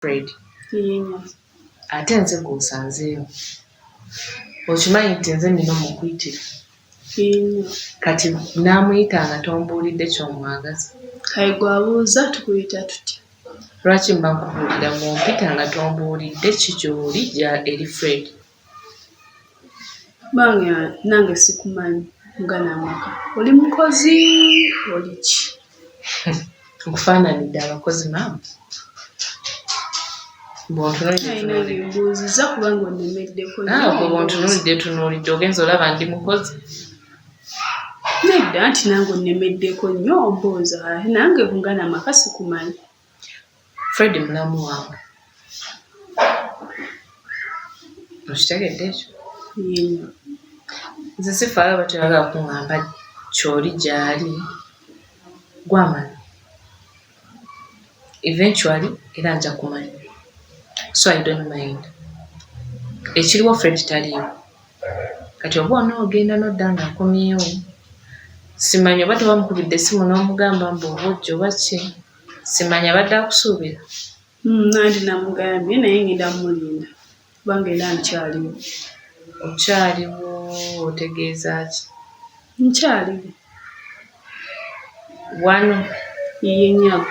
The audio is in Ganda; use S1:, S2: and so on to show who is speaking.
S1: fred
S2: ate
S1: nze gwosanzeeyo okimanyi nti nze nina omukuyitira
S2: kati
S1: namuyita nga tombuulidde kyomwagaza kaye
S2: gwabuuza tukuyita tutya lwaki mba
S1: nkubuulira mumpita nga tombuulidde kikyoli eri fred
S2: bange nange sikumanyi mugana amaka oli mukozi oli ki nkufaananidde
S1: abakozi maama
S2: bwontunulidde
S1: ah, tunulidde ogenza olaba ndi mukozi nedda
S2: nti nange onnemeddeko nnyo ombooza nange mugana amaka sikumanyi
S1: Fred mulamu wange okitegedde ekyo nze sifaayo bateraga kuŋamba kyoli gyali gwamanya eventually era nja kumanya so i don't mind ekiriwo fred taliiwo kati oba onoogenda nodda nga akomyewo simanyi oba tebamukubidde esimu n'omugamba mbu oba ojja oba ki simanyi abadde akusuubira hmm, nandi
S2: namugambye naye ngenda mulinda kubanga era nkyaliwo
S1: okyaliwo otegeeza ki nkyaliwo
S2: wano iye nyabo